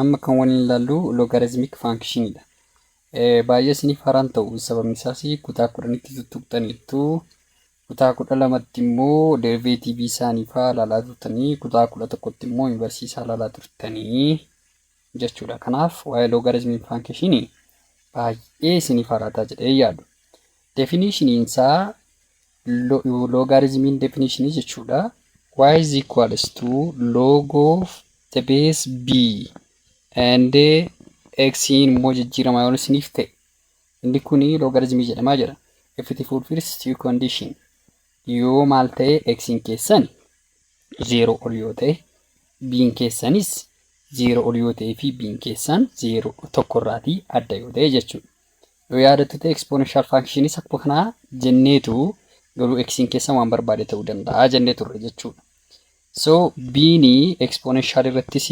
Amma kan waliin ilaallu logarizimik faankshinidha. Baay'ee isiniif haraan ta'u sababni isaas kutaa kudhanitti tuttuqxaniittu kutaa kudha lamatti immoo deriveetiivii isaanii fa'aa ilaalaa turtanii kutaa kudha tokkotti immoo invarsii isaa ilaalaa turtanii jechuudha. Kanaaf waa'ee logarizimik faankshinii baay'ee isiniif haraataa jedhee yaadu. Definishiniin isaa loogaariizimiin definishinii jechuudha. y is equals to log of the base b and x immoo jijjiiramaa yoo isiniif ta'e inni kun loogaariizimii jedhamaa jira. If it fulfills two condition yoo maal ta'e x keessan zeero ol yoo ta'e b keessanis zeero ol yoo ta'e fi b keessan zeero tokko irraatii adda yoo ta'e jechuudha. Yoo yaadattu ta'e exponential functions akkuma kanaa jenneetu garuu x'n keessa waan barbaade ta'uu danda'a jennee turre jechuudha. So b'n exponential irrattis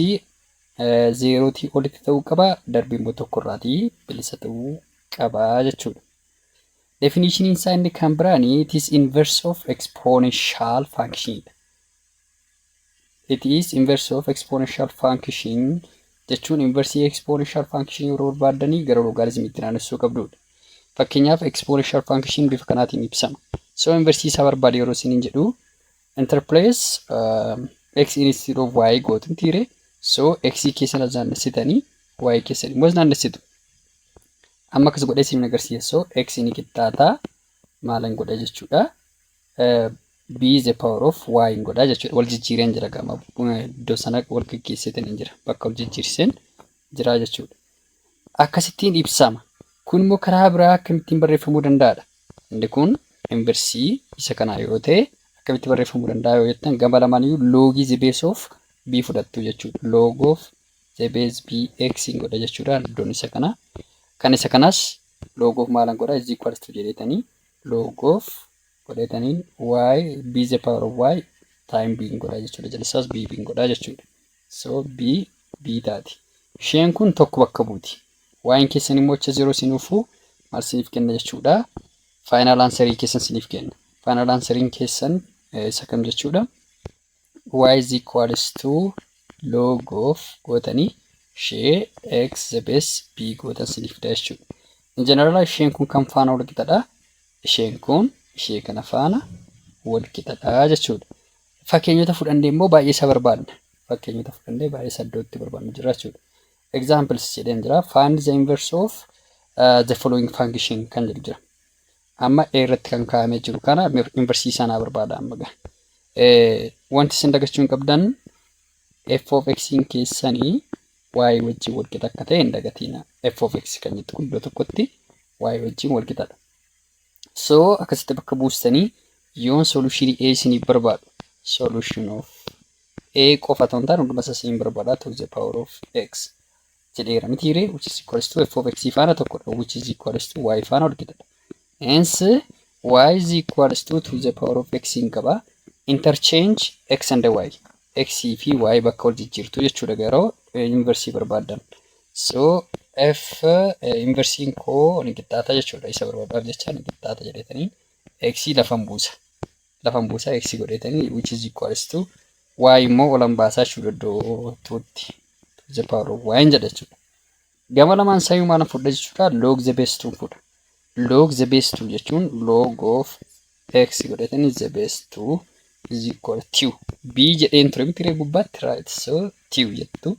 zeerootii olitti ta'uu qaba darbii immoo tokko irraatii bilisa ta'uu qaba jechuudha. Definition isaa inni kan biraan it is inverse of exponential function dha. It is inverse of exponential function jechuun inversii exponential function yeroo barbaaddanii gara logaariizimiitti naannessuu qabdudha. Fakkeenyaaf exponential function bifa kanaatiin ibsama. So inversii isaa barbaade yeroo isiniin jedhu interplace uh, x instead of y gootu tiire. So x keessan as naannessitanii y keessan immoo as naannessitu. Amma akkas godhee isiniin agarsiisa. So x ni qixxaataa maalan godha jechuudha. B the power of y hin godhaa jechuudha. Wal jijjiireen jira gama iddoo sana wal geggeesseetiin hin jira. Bakka wal jijjiirseen jira jechuudha. Akkasittiin ibsama. Kun immoo karaa biraa akkamittiin barreeffamuu danda'aadha. Inni kun inversii isa kanaa yoo ta'e akkamitti barreeffamuu danda'a yoo jettan gama lamaaniyyuu loogii the base of b fudhattu jechuudha. Log of the base b x hin godha jechuudha iddoon isa kanaa. Kan isa kanaas log of maalan godha is equals to jedheetanii log of godhataniin y b the power of y time b godhaa jechuudha. Jalsaas b b godhaa jechuudha. So b b taati. Isheen kun tokko bakka buuti. Waa'een keessan immoo acha zero sinuufuu maal siniif kenna jechuudha. Faayinaal aansarii keessan siniif kenna. Faayinaal aansariin keessan isa kam jechuudha. y is equals to log of gootanii ishee x the base b gootan sinii fida jechuudha. In general isheen kun kan faana wal qixadha. Isheen kun ishee kana faana wal qixadha jechuudha. Fakkeenyota fudhannee immoo baay'ee isa barbaadna. Fakkeenyota fudhannee baay'ee isa iddootti barbaadnu jira jechuudha. Examples jedheen jira. Find the inverse of uh, the following function kan jedhu jira. Amma A irratti kan kaa'amee jiru kana inversii isaa naa barbaada amma ga. Wanti isin dagachuu hin qabdan f of x keessanii y wajjin walqixa akka ta'e hin dagatiina. f of x kan jettu kun iddoo tokkotti y wajjin walqixadha. So akkasitti bakka buustanii yoon solution A isiniif barbaadu solution of A qofa ta'uu hin taane hunduma isaa isin barbaada to the power of x. jedheera mitii ree which is equals to f of x faana tokkodha which is equals to y faana walqixadha hence y is equals to to the power of x hin qaba interchange x and y x fi y bakka wal jijjiirtu jechuudha garuu inversii barbaaddan so f inversiin koo ni qixxaata jechuudha isa barbaadaaf jecha ni qixxaata jedhetanii x lafan buusa lafan buusaa x godheetanii which is equals to y immoo olan baasaa jechuudha iddoo tuutti to the power of y jedha jechuudha. Gama lamaan sayuu maalan fudha jechuudha log the base 2 fudha. Log the base 2 jechuun log of x godheetanii the base 2 is equal to b jedheen ture miti ree gubbaatti right so 2 jettu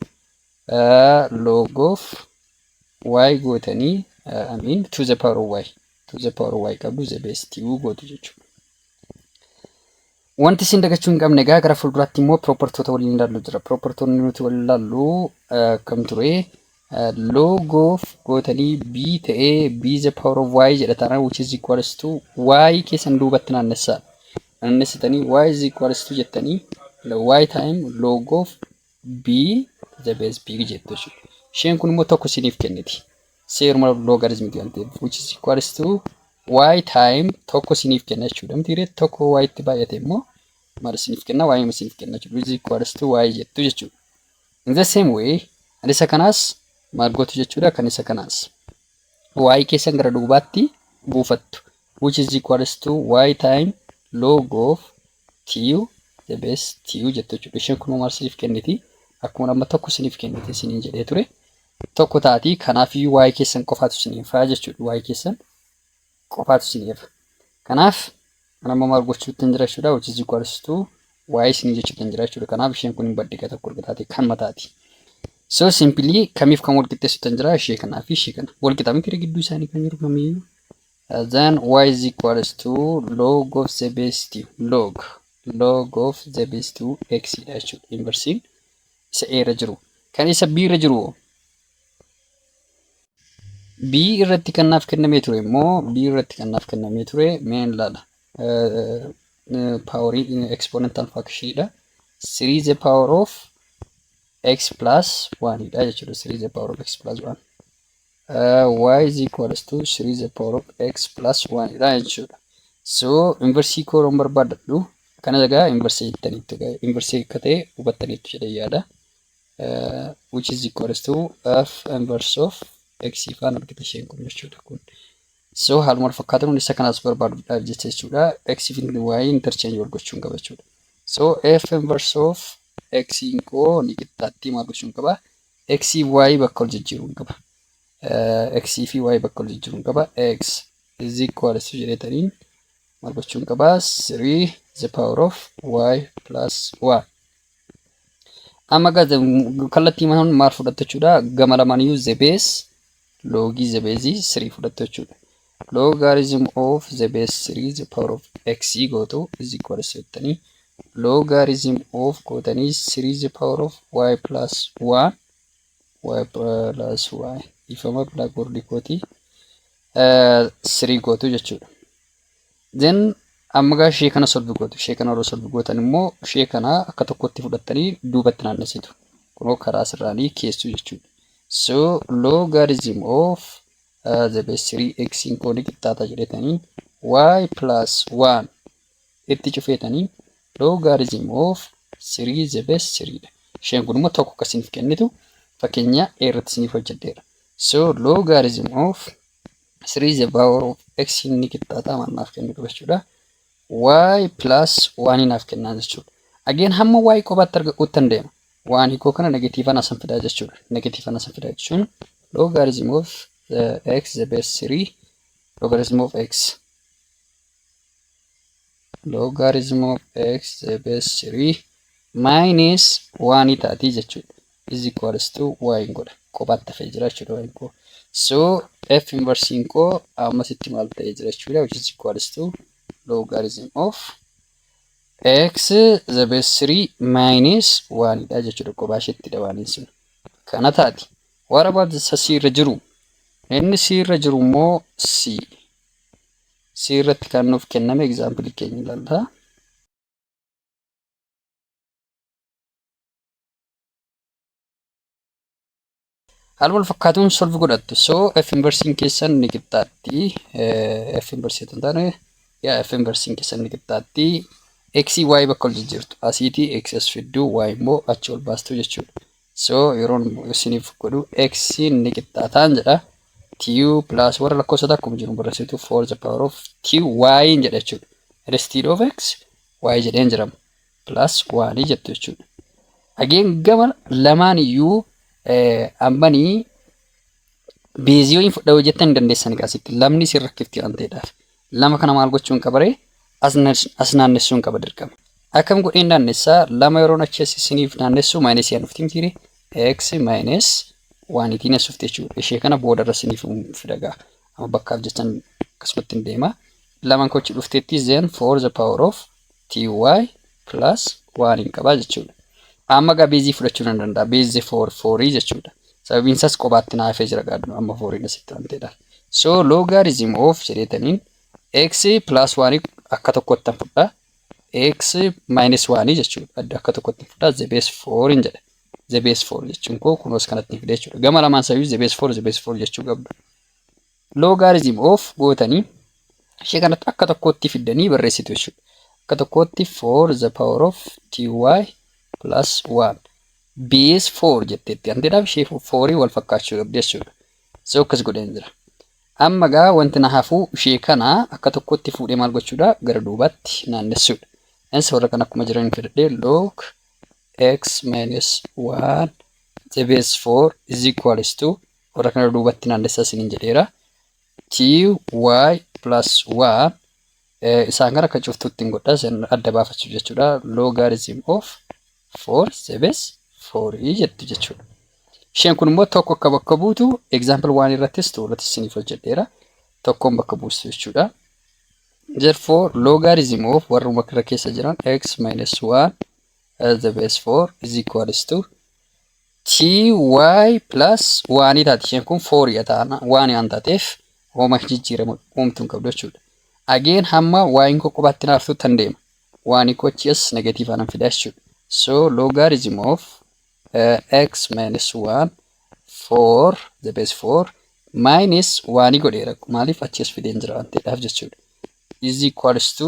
uh, log of y gootanii uh, I mean to the power of y to the power y qabdu the base ti'uu gootu jechuudha. Wanti isin dagachuu hin qabne egaa gara fuulduraatti immoo piroopartoota waliin ilaallu jira. Piroopartoonni nuti waliin ilaallu akkam ture? Loogoof gootanii b ta'ee b the power of y jedha taanaan which is equals to y keessan duubatti naannessaa. Naannessitanii y is equals to jettanii y time loogoof b the base b jettu jechuudha. Isheen kun immoo tokko isiniif kenniti. seeruma logarithm waan ta'eef which is equals to y time tokko isiniif kenna jechuudha miti hiree tokko y itti baay'ate immoo maal isiniif kenna y nama isiniif kenna jechuudha which is equals to y jettu jechuudha in the same way kan isa kanaas maal gootu jechuudha kan isa kanaas y keessan gara duubaatti buufattu which is equals to y time log of Tiyu the best tiyu jette jechuudha. Isheen kun homaa isiniif kenniti. Akkuma amma tokko isiniif kennite isiniin jedhee ture. Tokko taati kanaaf iyyuu waa'ee keessan qofaatu isiniif haa jechuudha. Waa'ee keessan qofaatu isiniif. Kanaaf kan amma maal gochuutti hin jira jechuudha. Which is equals to waa'ee isinii jechuutti hin jira jechuudha. Kanaaf isheen kun hin baddiga tokko erga taate kan mataati. So simply kamiif kan wal qixxeessuutti hin jira ishee kanaa fi ishee kana. Wal qixa miti gidduu isaanii kan jiru kamiyyuu. Then y is equals to log of the base 2 log log of the base 2 x dha jechuudha inversiin isa a irra jiru kan isa b irra jiru b irratti kan naaf kennamee ture immoo b irratti kan naaf kennamee ture meen laala paaworii exponential function dha 3 the power of x plus 1 dha jechuudha 3 the power of x plus 1 y is equals to 3 the power of x plus 1 dha jechuudha. So inversii koo yeroon barbaadadhu akkana egaa inversii jettaniitti egaa inversii akka ta'e hubattaniitti jedhee yaada. Uh, which is equals to f inverse of x ifaan argita isheen kun jechuudha kun. So haaluma wal fakkaatan hundi isa kanaas barbaaduudhaaf jecha jechuudha x fi y interchange wal gochuun qaba jechuudha. So f inverse of x koo ni qixxaatti maal gochuun qaba? X fi Y bakka wal jijjiiruun qaba. X fi Y bakka wal jijjiiruun qaba. X is equal to jedhetaniin maal gochuun qaba? 3 the power of Y plus 1. Amma kallattii manuun maal fudhatta jechuudha? Gama lamaan iyyuu the base loogii the base 3 fudhattu jechuudha. Logarithm of the base 3 the power of x gootu is equal to jettanii logarithm of gootanii 3 the power of y plus 1 y plus y ifama blackboard kooti 3 gootu jechuudha. Then amma gaa ishee kana solve gootu. Ishee kana yeroo solve gootan immoo ishee kana akka tokkotti fudhattanii duubatti naannessitu. Kunoo karaa asirraanii keessu jechuudha. So logarithm of uh, the base 3x in kooni qixxaata jedhetanii y plus 1 itti cufeetanii logarithm of 3 the base 3 dha. Isheen kun immoo tokko akka isiniif kennitu fakkeenya A irratti isiniif hojjedheera. So logarithm of 3 is the power of x inni qixxaataa maal naaf kennu qaba jechuudha. y plus 1 naaf kennaa jechuudha. Again hamma y qofaatti arga uttan deema. waan hiikoo kana negatiivaan asan fidaa jechuudha. Negatiivaan asan fidaa jechuun logarithm of uh, x the base 3 logarithm of x logarithm of x the base 3 minus 1 taatii jechuudha. is equals to y hin godha kophaatti hafee jira jechuudha y koo so f inversiin koo ammasitti maal ta'ee jira jechuudha which is equals to logarithm of x the base 3 minus 1 dha jechuudha kophaa isheetti dabaaniin sun kana taati warra baadisa c irra jiru inni c irra jiru immoo c c irratti kan nuuf kenname egzaampilii keenya ilaalla. Haaluma wal fakkaatuun solve godhattu. So f inversiin keessan ni qixxaatti. f inversii kan taane yaa f inversiin keessan ni qixxaatti. x y bakka ol jijjiirtu. Asiiti x as fiddu y immoo achi ol baastu jechuudha. So yeroon isiniif godhu x ni qixxaataan jedha. t plus warra lakkoofsa akkuma jiru barreessitu for the power of t y jedha jechuudha. Instead of x y jedheen jirama. plus 1 jettu jechuudha. Again gama lamaan iyyuu ammanii beezii yoo hin fudhaa hojjettan hin dandeessan egaa asitti lamni isin rakkifti waan ta'eedhaaf. Lama kana maal gochuu hin qabaree as naannessuu hin qaba dirqama. Akkam godheen naannessaa lama yeroon achi as isiniif naannessuu maayinesii aan dhufti mitiire x maayinees waan itiin as dhufte jechuudha. Ishee kana booda irra isiniif fidagaa. Amma bakkaaf jechan akkasumatti hin deema. Laman kochi dhufteetti zen for the power of ty plus 1 hin qabaa jechuudha. Amma gaa beezii fudhachuu nan danda'a. Beezii 4 4 jechuudha. Sababiin isaas qobaatti naa hafee jira gaadhu amma 4 asitti aanteedha. So logarithm of jedheetaniin x plus 1 akka tokkotti tan fudha. x minus 1 jechuudha. Adda akka tokkotti fudha. The base 4 hin jedha. The base 4 jechuun koo kunoos kanatti fide jechuudha. Gama lamaan sababii the base 4 the base 4 jechuu qabdu. Logarithm of gootanii ishee kanatti akka tokkootti fiddanii barreessitu jechuudha. Akka tokkootti 4 the power of 2y plus 1 base 4 jetteetti. Hantiidhaaf ishee 4 wal fakkaachuu qabdi jechuudha. So akkas godheen jira. Amma gaa wanti na hafuu ishee kana akka tokkootti fuudhee maal gochuudha gara duubaatti naannessuudha. Innis warra kan akkuma jiran fidadhee log x minus 1 the base 4 is equals to Warra kana duubatti naannessaa isiniin jedheera. ty plus 1 eh, isaan kana akka cuftuutti hin godha isin adda baafachuuf jechuudha. Logarithm of 4 is the base 4 jettu jechuudha. Isheen kun immoo tokko akka bakka buutu example 1 irrattis 2 irrattis isiniif hojjedheera. Tokkoon bakka buustu jechuudha. Therefore logarithm of warruma kana keessa jiran x minus 1 as the base 4 is equals to 2y plus 1 taati isheen kun 4 dha taana 1 waan taateef hooma jijjiirama uumtu hin qabdu jechuudha. Again hamma y'n koo qubaatti hin haartu tan deema. 1 koo achi as negatiivaa nan fida jechuudha. So logarithm of uh, x minus 1 4 the base 4 minus 1 godheera maaliif achi as fideen jira waan ta'eedhaaf jechuudha. is equals to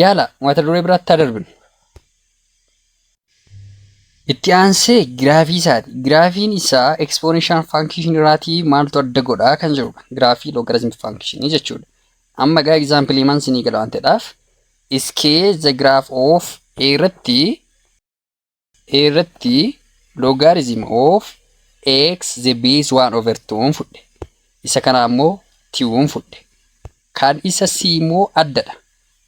Yaala mata duree biraatti haa darbinu. Itti aansee giraafii isaati. Giraafiin isaa ekspoonenshaal faankishinii irraatii maaltu adda godhaa kan jirudha. Giraafii loogarizimii faankishinii jechuudha. Amma egaa egzaampilii man sinii gala waan ta'edhaaf iskee the graph of a irratti irratti logarithm of x the base 1 over 2 fudhe. Isa kana ammoo 2 fudhe. Kan isa c immoo addadha.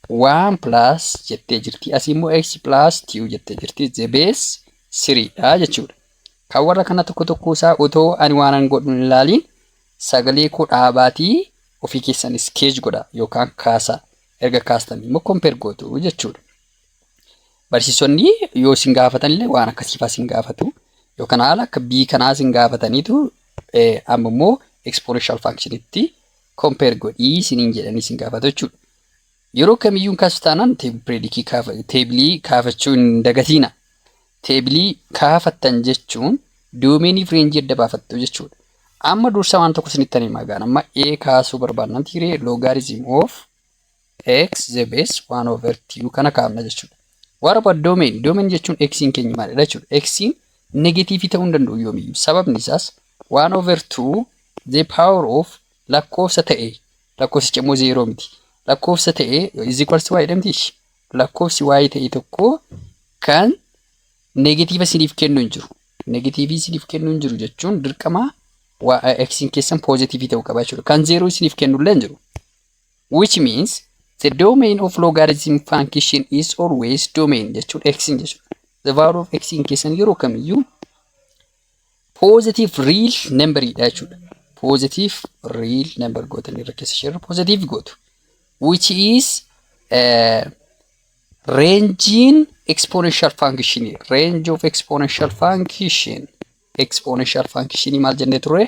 1 plus jettee jirti. As immoo x plus 2 jettee jirti. The base 3 dha jechuudha. Kan warra kana tokko tokko isaa otoo ani waanan godhu hin ilaaliin sagalee koo dhaabaatii ofii keessan iskeej godha yookaan kaasaa. Erga kaastanii immoo kompeer gootu jechuudha. Barsiisonni yoo isin gaafatan illee waan akkasii fa'aa isin gaafatu. Yookaan haala akka B kanaa isin gaafataniitu amma immoo exponential function itti compare godhii isiniin jedhanii isin gaafatu jechuudha. Yeroo kamiyyuu kasu taanaan teebreedikii kaafa teebilii kaafachuu hin dagatiina. Teebilii kaafattan jechuun doomeenii fi reenjii adda baafattu jechuudha. Amma dursa waan tokko isinitti himaa gaana. Amma A kaasuu barbaadnan tiiree logarithm of X the base 1 over 2 kana kaafna jechuudha. What about domain? Domain jechuun x'n keenya maalidha jechuudha. X'n negatiivii ta'uu hin danda'u yoomiyyuu. Sababni isaas 1 over 2 the power of lakkoofsa ta'e lakkoofsicha immoo zeeroo miti. Lakkoofsa ta'e is equals to y jedhamti ishi. Lakkoofsi y ta'e tokko kan negatiiva isiniif kennu hin jiru. Negatiivii isiniif kennu hin jiru jechuun dirqama x'n keessan poozitiivii ta'uu qaba jechuudha. Kan zeeroo isiniif kennu illee hin jiru. which means the domain of logarithm function is always domain jechuudha x jechuudha the value of x in keessan yeroo kamiyyuu positive real number dha jechuudha positive real number gootan irra keessa share positive gootu which is uh, range in exponential function range of exponential function exponential function maal jennee turre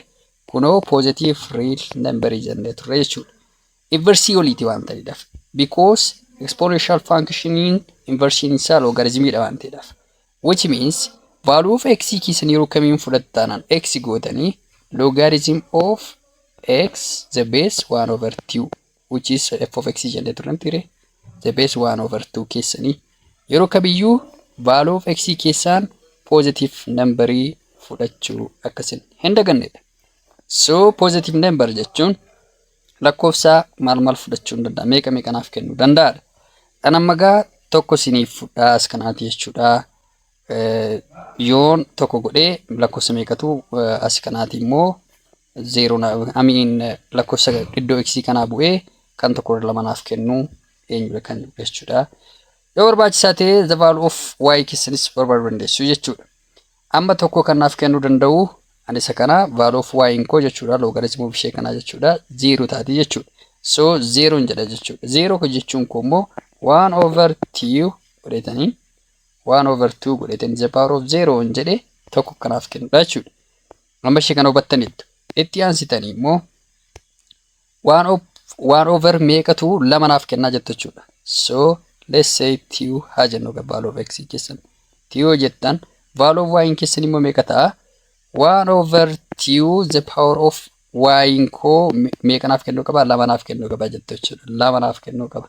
kunoo positive real number jennee turre jechuudha. Inversii oliiti waan ta'eedhaaf. Because exponential function inversiin isaa logaritmiidha waan ta'eedhaaf. Which means value of x keessan yeroo kamiin fudhattaanaan x gootanii logarithm of x the base 1 over 2 which is f of x jennee turre miti ree the base 1 over 2 keessanii yeroo kamiyyuu value of x keessaan positive number fudhachuu akkasin hin dagannedha. So positive number jechuun lakkoofsa maal maal fudhachuu hin danda'a meeqa meeqa naaf kennuu danda'adha. Kan amma gaa tokko siniif fudhaa as kanaati jechuudha. Yoon tokko godhee lakkoofsa meeqatu as kanaati immoo 0 na amiin lakkoofsa iddoo x kanaa bu'ee kan tokko irra lama naaf kennu eenyudha kan jedhu jechuudha. Yoo barbaachisaa ta'e the value of y keessanis barbaaduu dandeessu jechuudha. Amma tokko kan naaf kennuu danda'u ani isa kana value of y koo jechuudha logarithm of ishee kanaa jechuudha 0 taati jechuudha. So 0 jedha jechuudha. 0 ko jechuun koo immoo 1 over 2 godheetanii 1 over 2 godheetanii the power of 0 jedhe tokko kanaaf kennudha jechuudha. Amma ishee kana hubattaniittu. Itti aansitanii immoo waan of waan over meeqatu lama naaf kennaa jettu jechuudha. So let's say tiu haa jennu egaa value of x keessan. Tiu yoo jettan value of y keessan immoo meeqa ta'a? Waan over tiu the power of y koo me- meeqa naaf kennuu qaba? Lama naaf kennuu qaba jettu jechuudha. Lama naaf kennuu qaba.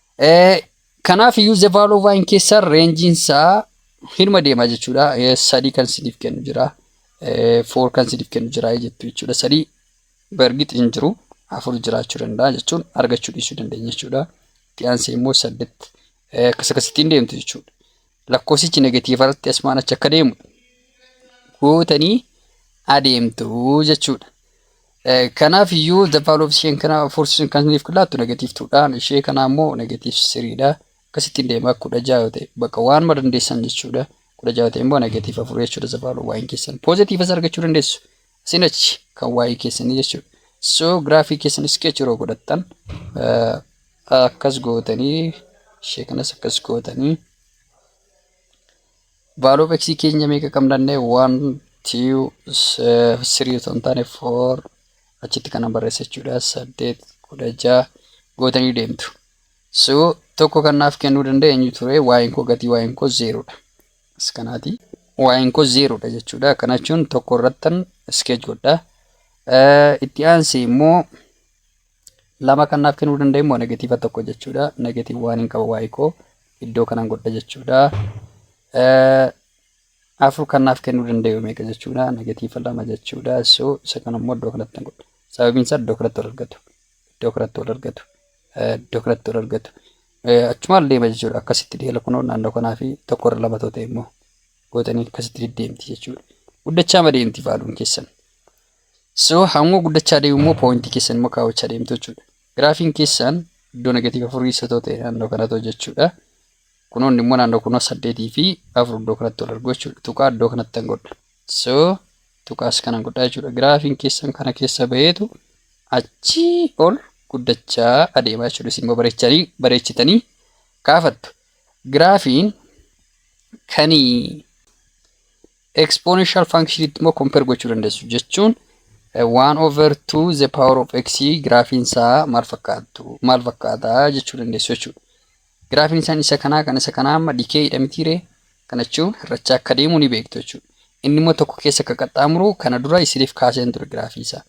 Kanaaf iyyuu the value of y keessaa reenjiin isaa hirma deema jechuudha. Sadii kan isiniif kennu jira. Four kan isiniif kennu jira jettu jechuudha. Sadii bargix hin jiru. Afur jiraachuu danda'a jechuun argachuu dhiisuu dandeenya jechuudha. Itti aansee immoo saddeet akkas akkasittiin deemtu jechuudha. Lakkoofsichi negatiiva irratti asmaan achi akka deemu gootanii adeemtu jechuudha. Kanaaf iyyuu the value of isheen kana force kan isiniif laattu negative 2 dhaan ishee kana ammoo negative 3 dha. Akkasittiin deema kudha ja'a yoo ta'e bakka waanuma dandeessan jechuudha. Kudha ja'a yoo ta'e immoo negative afur jechuudha the value waa'een keessan. Positive as argachuu dandeessu. Isin achi kan waa'ee keessanii jechuudha. So giraafii keessan sketch yeroo godhattan akkas gootanii ishee kanas akkas gootanii Value of x keenya meeqa qabna jennee 1 2 3 osoo hin taane 4 achitti kana barreessa jechuudha 8 16 gootanii deemtu. So tokko kan naaf kennuu danda'e eenyu ture waa'een koo gatii waa'een koo zeeroodha. As kanaati waa'een koo zeeroodha jechuudha. Kana jechuun tokko irrattan iskeej godha. Itti aansee immoo lama kan naaf kennuu danda'e immoo negatiiva tokko jechuudha. Negatiiv waan hin qaba waa'ee koo iddoo kanan godha jechuudha. Afur kan naaf kennuu danda'e meeqa jechuudha. Negatiiva lama jechuudha. So isa kana immoo iddoo kanatti nan godha. Sababiin isaa iddoo kanatti wal argatu. Iddoo kanatti wal argatu. Iddoo kanatti wal argatu. Achumaan deema jechuudha. Akkasitti deela kunoo naannoo kanaa fi tokko irra lama ta'e immoo gootanii akkasitti deddeemti jechuudha. Guddachaa madeemti faaluun keessan. So hanguma guddachaa deemu immoo poointii keessan immoo kaawwachaa deemtu jechuudha. Giraafiin keessan iddoo negatiiva afurii isa ta'u ta'e naannoo kana ta'u jechuudha. Kunoonni immoo naannoo kunoo saddeetii fi afur iddoo kanatti wal argu jechuudha. Tuqaa iddoo kanatti an godha. So tuqaas kanan godha jechuudha. Giraafiin keessan kana keessa baheetu achii ol guddachaa adeema jechuudha. Isin immoo bareechanii bareechitanii kaafattu. Giraafiin kanii Exponential function itti immoo compare gochuu dandeessu jechuun 1 over 2 the power of x giraafiin isaa maal fakkaatu maal fakkaata jechuu dandeessu jechuudha. Giraafiin isaan isa kanaa kan isa kanaa amma dikee hidhamitiire kana jechuun hir'achaa akka deemu ni beektu jechuudha. Inni immoo tokko keessa akka qaxxaamuru kana dura isiniif kaaseen ture giraafii isaa.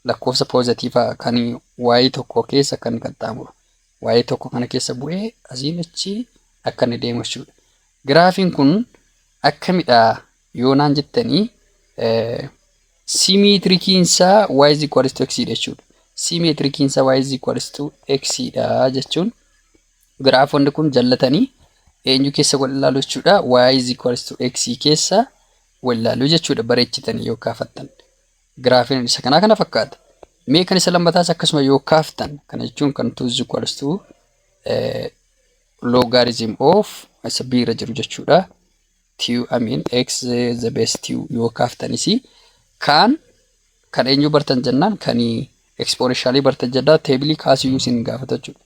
Lakkoofsa poozatiivaa kan waayii tokko keessa akka inni qaxxaamuru. Waa'ee tokko kana keessa bu'ee asiin achi akka inni deemu jechuudha. Giraafiin kun akkamidha yoo naan jettanii simeetirikiin isaa y is equal to x dha jechuudha. Simeetirikiin isaa y is equal to x dha jechuun giraafonni kun jallatanii eenyu keessa wal ilaalu jechuudha. y is equal to x keessa wal ilaalu jechuudha bareechitanii yoo kaafattan. Giraafiin isa kanaa kana fakkaata. Mee kan isa lammataas akkasuma yoo kaaftan kana jechuun kan 2 is equals to logarithm of isa b irra jiru jechuudha. q I mean x the base q yoo kaaftanis kan kan eenyu bartan jennaan kan ekspooneshaalii bartan jennaan teebilii kaasiyyuu isin gaafata jechuudha.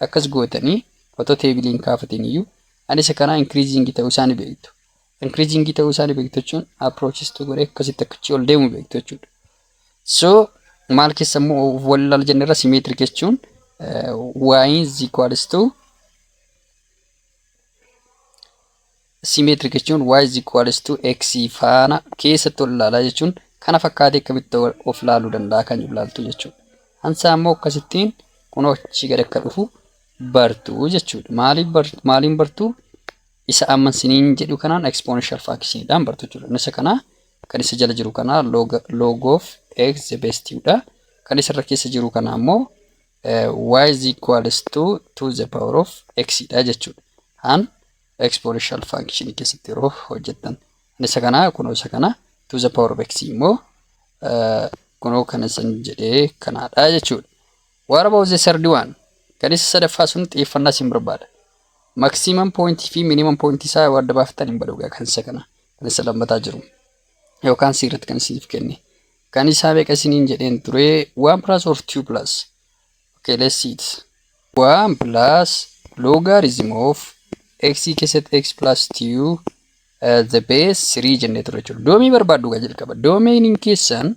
Akkas gootanii otoo teebiliin kaafatiin iyyuu ani isa kanaa inkiriiziingii ta'uu isaa ni beektu. increasing ta'uu isaanii beektu jechuun approaches to godhee akkasitti akkachi ol deemu beektu jechuudha. So maal keessa immoo wal ilaala jenne irra symmetric jechuun y is equals to symmetric jechuun y is equals to x faana keessatti ol ilaalaa jechuun kana fakkaatee akkamitti of ilaaluu danda'a kan ilaaltu jechuudha. Hansaa immoo akkasittiin kunoo achii gad akka dhufu bartu jechuudha. Maaliin bartuu? Isa amma isiniin jedhu kanaan exponential fraction dhaan bartu jechuudha. Isa kana kan isa jala jiru kana log, log of x the base 2 dha. Kan isa irra keessa jiru kana ammoo y is equals to 2 the power of x dha jechuudha. An exponential function keessatti yeroo hojjettan. An isa kana kunoo isa kana 2 the power of x immoo kunoo kan isin jedhee kanaadha jechuudha. What about the third one? Kan isa sadaffaa sun xiyyeeffannaa isin barbaada. Maximum point fi minimum point isaa yoo adda baaftan hin badhugaa kan isa kana kan isa lammataa jiru. Yookaan C irratti kan isiniif kenne. Kan isaa meeqa isiniin jedheen ture 1 plus or 2 plus. Okay, let's see it. 1 plus logarithm of x keessatti x plus 2 uh, the base 3 jennee ture jechuudha. Doomii barbaaddu gaa jalqaba. Doomiin keessan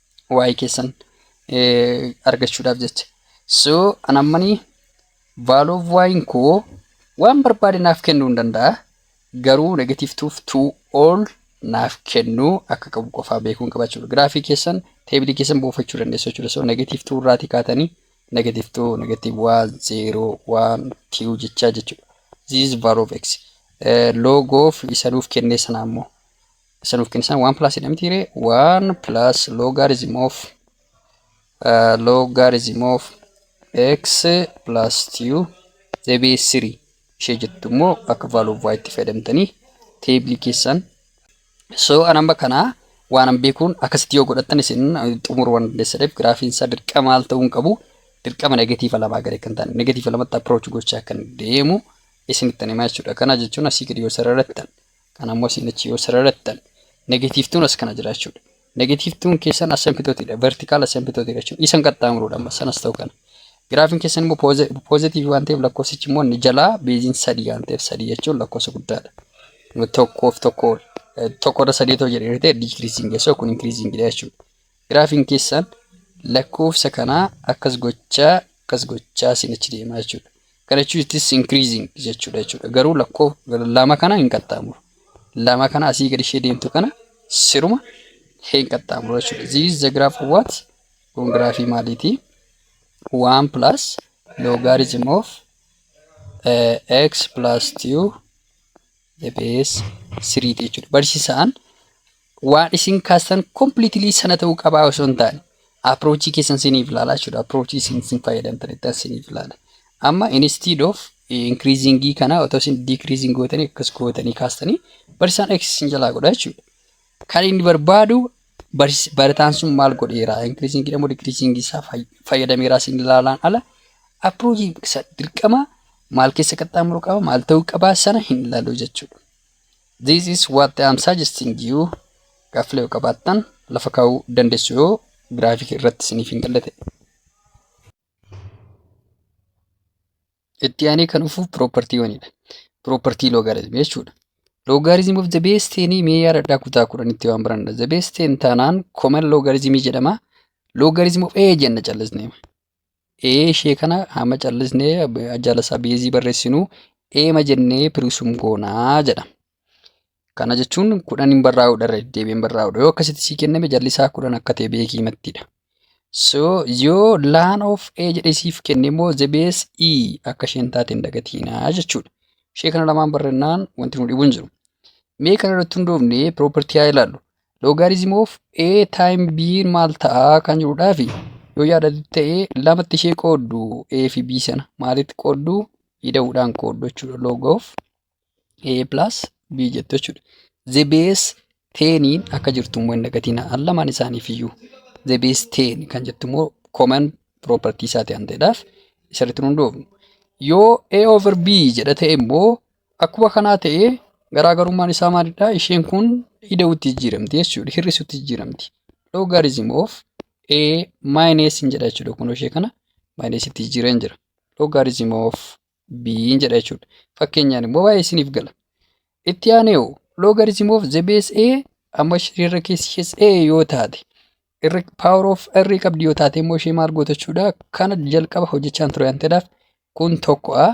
waa'ee keessan argachuudhaaf jecha. So an ammanii value of y'n koo waan barbaade naaf kennuu hin danda'a. Garuu negative 2 to all naaf kennuu akka qabu qofaa beekuun qaba jechuudha. Giraafii keessan teebilii keessan buufachuu dandeessu jechuudha. So negative 2 irraatii kaatanii negative 2 negative 1 0 1 2 jechaa jechuudha. This is value of x. Log of isa nuuf kennee sana ammoo. Isa nuuf kennisan 1 plus jedha miti ree 1 plus logarithm of uh, logarithm of x plus 2 deebi'ee 3 ishee jettu immoo akka value of y itti fayyadamtanii teebilii keessan so anamba kanaa waan an beekuun akkasitti yoo godhattan isin xumuruu waan dandeessaniif giraafiin isaa dirqama maal ta'uu hin qabu dirqama negatiiva lamaa gadi kan ta'an negatiiva lamatti approach gochaa kan deemu isinitti himaa jechuudha kana jechuun asii gadi yoo sarara irratti Kana ammoo isin achi yoo sararattan negative 2 as kana jiraachuudha. Negative 2 keessan asymptote dha. Vertical asymptote dha jechuudha. Isan qaxxaamuruudha amma sanas ta'u kana. Giraafiin keessan immoo positive waan ta'eef lakkoofsichi immoo inni jalaa beeziin sadii waan ta'eef sadii jechuun lakkoofsa guddaadha. Tokkoof tokko tokko irra sadii ta'u jedhee ta'e decreasing jechuudha kun increasing dha jechuudha. Giraafiin keessan lakkoofsa kanaa akkas gochaa akkas gochaa sin achi deemaa jechuudha. Kana jechuun it is increasing jechuudha jechuudha. Garuu lakkoo lama kana hin qaxxaamuru. Lama kana asii gadi ishee deemtu kana siruma hin qaxxaamuru jechuudha. This is the graph of what? Kun giraafii maaliiti? 1 plus logarithm of uh, x plus 2 the base 3 jechuudha. Barsiisaan waan isin kaastan completely sana ta'uu qabaa osoo hin taane approachii keessan siniif ilaala jechuudha approachii isin isin fayyadamtanittan siniif ilaala amma instead of increasingii kana otoo isin decreasing gootanii akkas gootanii kaastanii barsiisaan x isin jalaa godha jechuudha kan inni barbaadu barsi- barataan sun maal godheera increasingii dha moo decreasingii isaa fay- fayyadameera isin ilaalaan ala approachii isa dirqama maal keessa qaxxaamuru qaba maal ta'uu qaba sana hin ilaalu jechuudha This is what I am suggesting you. Gaaffilee yoo qabaattan lafa kaa'uu dandeessu yoo giraafikii irratti isiniif hin galle ta'e. Itti aanee kan dhufu piroopartiiwwanidha. Piroopartii loogaariizimii jechuudha. Loogaariizim of the base teenii mee yaadadhaa kutaa kudhanitti waan baranna. The base teen taanaan common loogaariizimii jedhama. Loogaariizim of A jenna callisnee. ee ishee kana amma callisnee jalasaa beezii barreessinu eema jennee piriisum goonaa jedha. Kana jechuun kudhan hin barraa'udha irra deddeebiin barraa'udha. Yoo akkasitti sii kenname jallisaa kudhan akka ta'e beekii mattidha. So yoo laan of ee jedhee siif kenne immoo zebees i akka isheen taate hin dagatiinaa jechuudha. Ishee kana lamaan barrennaan wanti nu dhibu hin jiru. Mee kana irratti hundoofnee piroopertii haa ilaallu. Logarithm of A time B maal ta'a kan jedhudhaafi yoo yaadatu ta'e lamatti ishee qooddu A fi B sana maalitti qooddu ida'uudhaan qooddu jechuudha log of A plus B jettu jechuudha. The base teeniin akka jirtu immoo hin dagatina al lamaan isaaniif iyyuu the base teen kan jettu immoo common property isaati waan ta'eedhaaf isarratti hin hundoofnu. Yoo A over B jedha ta'e immoo Akkuma kanaa ta'ee garaagarummaan isaa maalidha? Isheen kun ida'utti jijjiiramti jechuudha. Hir'isutti jijjiiramti. Logarithm of A minus hin jedha jechuudha. Kun ishee kana minus itti jijjiireen jira. Logarithm of B hin jedha jechuudha. Fakkeenyaan immoo baay'ee isiniif gala. Itti aanee hoo logarithm of the base A amma ishee irra keessi ishees A yoo taate irra power of R qabdi yoo taate immoo ishee maal goota jechuudha. Kana jalqaba hojjechaan ture waan ta'eedhaaf kun tokko'a.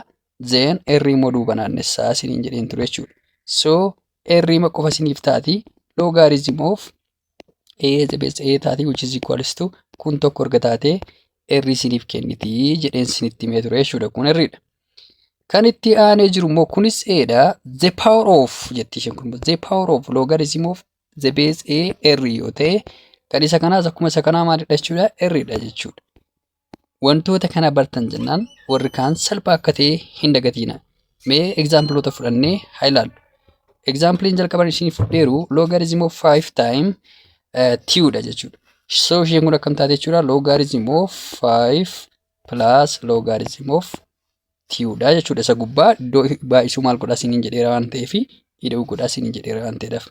Then erri immoo duuba naannessaa isiniin jedheen ture jechuudha. So erriima qofa isiniif taati logarithm of a the base a taati which is equals to kun tokko erga taatee erri isiniif kenniti jedheen isinitti himee ture jechuudha kun erridha. Kan itti aanee jiru immoo kunis eedha the power of jetti isheen kun the power of logarithm of the base a erri yoo ta'e kan isa kanaas akkuma isa kanaa maalidha jechuudha erridha jechuudha. Wantoota kana bartan jennaan warri kaan salphaa akka ta'e hin dagatiina. Mee egzaampiloota fudhannee haa ilaallu. Egzaampiliin jalqaban isiniif fudheeru logarithm of 5 time uh, 2 dha jechuudha. So isheen kun akkam taate jechuudha logarithm of 5 plus logarithm of tiyuudha jechuudha. Isa gubbaa iddoo baay'isuu maal godhaa isiniin jedheera waan ta'eef ida'uu godhaa isiniin jedheera waan ta'eedhaaf.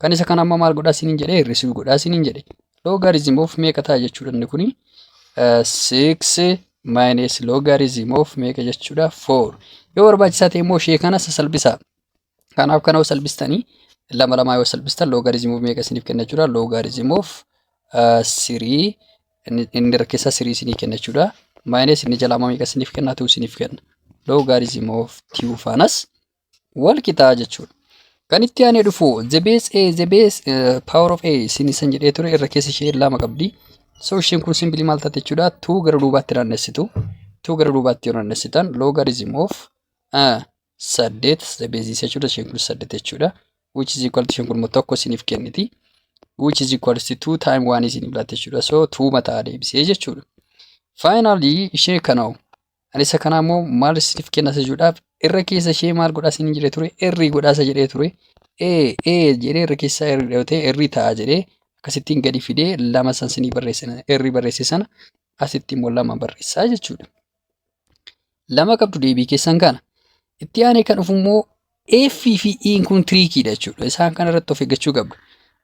Kan isa kana amma maal godhaa isiniin jedhee hir'isuu godhaa isiniin jedhe. Logarithm of meeqa ta'a jechuudha inni kuni? Six minus logarithm of meeqa jechuudha? Four. Yoo barbaachisaa ta'e immoo ishee kana sasalbisaa. Kanaaf kana yoo salphistanii lama lamaa yoo salphistan logarithm of meeqa isiniif kenna jechuudha. Logarithm of sirii inni rakkeessaa sirii isinii kenna jechuudha. Maayinees inni jalaa meeqa isiniif kenna tuu isiniif kenna. Logarithm of tuu faanas wal qixaa jechuudha. Kan itti aanee dhufu the base a the base uh, power of a isin isan jedhee ture irra keessa ishee lama qabdi. So isheen kun simpilii maal taate jechuudha tuu gara duubaatti naannessitu. Tuu gara duubaatti yoo naannessitan logarithm of uh, saddeet beeziis jechuudha isheen kunis saddeet jechuudha which is equal to isheen kun immoo tokko isiniif kenniti which is equal to two time one isiniif laatti jechuudha so two mataa deebisee jechuudha finally ishee kana ani isa kana immoo maal isiniif kenna isa jechuudhaaf irra keessa ishee maal godhaa isiniin jedhee ture irrii godhaa isa jedhee ture ee ee jedhee irra keessaa irri dhawatee irri ta'a jedhee akkasittiin gadi fidee lama san sinii barreessan irri barreesse sana asitti immoo lama barreessaa jechuudha. Lama qabdu deebii keessan kana. Itti aanee kan dhufu immoo F fi E kun tiriikiidha jechuudha. Isaan kana irratti of eeggachuu qabdu.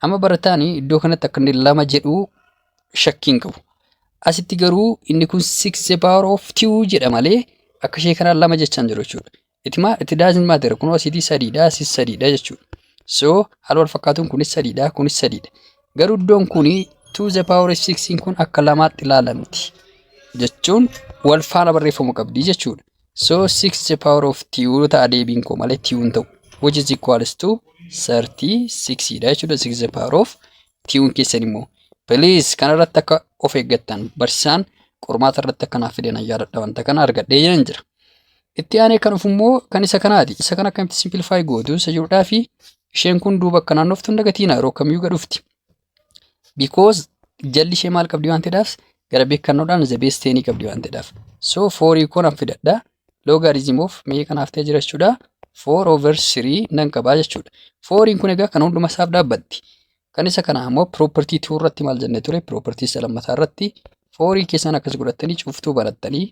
Amma barataan iddoo kanatti akka inni lama jedhu shakkii hin qabu. Asitti garuu inni kun 6 the power of 2 jedha malee akka ishee kanaan lama jechaa hin jiru jechuudha. It, ma, it doesn't matter. Kunoo asiitii sadiidha, asis sadiidha jechuudha. So, haala wal fakkaatuun kunis sadiidha, kunis sadiidha. Garuu iddoon kun 2 the power of 6 kun akka lamaatti ilaalamti. Jechuun wal faana barreeffamu qabdi jechuudha. So, 6 the power of 2 ta'a deebiin koo malee 2 hin ta'u. Which is equals to 36 dha jechuudha. 6 the power of 2 keessan immoo. Please kanarratti akka of eeggattan barsiisaan qormaata irratti akka naaf fidan yaadadha wanta kana argadhee jiran jira. Itti aanee kan dhufu immoo kan isa kanaati. Isa kana akkamitti simplify gootu isa jirudhaa fi isheen kun duuba akka naannoftu hin dagatiina yeroo kamiyyuu gad dhufti. Because jalli ishee maal qabdi waan ta'eedhaaf gara beekannoodhaan the best tenii qabdi waan ta'eedhaaf. So foorii kun an fidadha. Logarithm of mee kanaaf ta'e jira jechuudha. 4 over 3 nan qabaa jechuudha. Fooriin kun egaa kan hunduma isaaf dhaabbatti. Kan isa kana ammoo property 2 irratti maal jennee ture? Property isa lammataa irratti foorii keessan akkas godhattanii cuftuu banattanii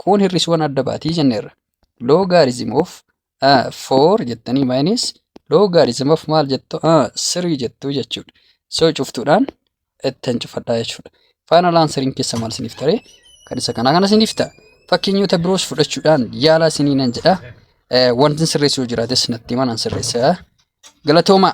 kun hir'isuuwwan adda baatii jenneerra. Logarithm of uh, 4 jettanii minus logarithm of maal jettu uh, 3 jettu jechuudha. So cuftuudhaan ittiin cufadhaa jechuudha. Final answering keessa maal isiniif taree? Kan isa kanaa kana isiniif ta'a. Fakkeenyota biroos fudhachuudhaan yaalaa isinii nan jedha. Eh, Wanti sirreessuu jiraates natti himaa nan sirreessa. Galatoomaa.